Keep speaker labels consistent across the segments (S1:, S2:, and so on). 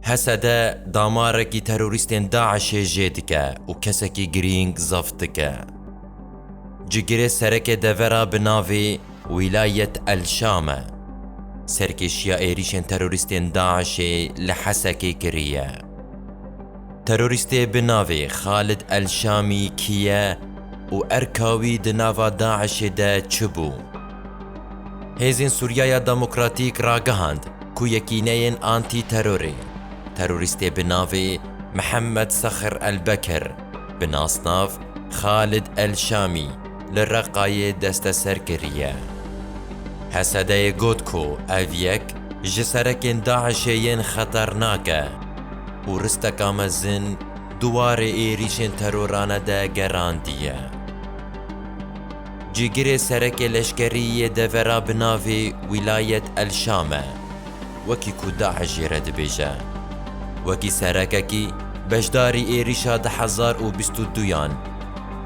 S1: Hesede damarekî terorîstên DAIŞ'ê jê dike û kesekî girîng zeft dike. Cigirê serekê devera bi navê Wîlayet El-Şam e. Serkêşiya êrîşên terorîstên DAIŞ'ê li Hesekê kiriye. Terorîstê bi navê Xalid El-Şamî kî ye û erka wî di nava DAIŞ'ê de çi bû? Hêzên Sûriyaya Demokratîk ragihand ku yekîneyên antî-terorê terorîstê bi navê Mihemed Sexir Elbekir bi nasnav Xalid Elşamî li Reqayê desteser kiriye. Hesedeyê got ku ev yek ji serekên DAIŞ'ê yên xeternak e û risteka mezin di warê êrîşên terorane de gerandiye. Cîgirê serekê leşkerî yê devera bi navê Wîlayet El Şam e, wekî ku DAIŞ jê re dibêje. Wekî serekekî beşdarî êrîşa du hezar û bîst û duyan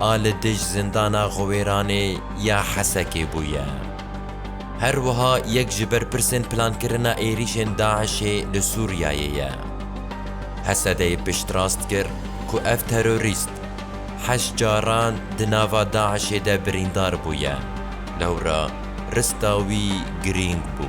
S1: a li dij Zindana Xwewêranê ya Hesekê bûye. Her wiha yek ji berpirsên plankirina êrîşên DAIŞê li Sûriyeyê ye. Hesedê piştrast kir ku ev terorîst, heşt caran di nava DAIŞ'ê de birîndar bûye, lewra rista wî girîng bû.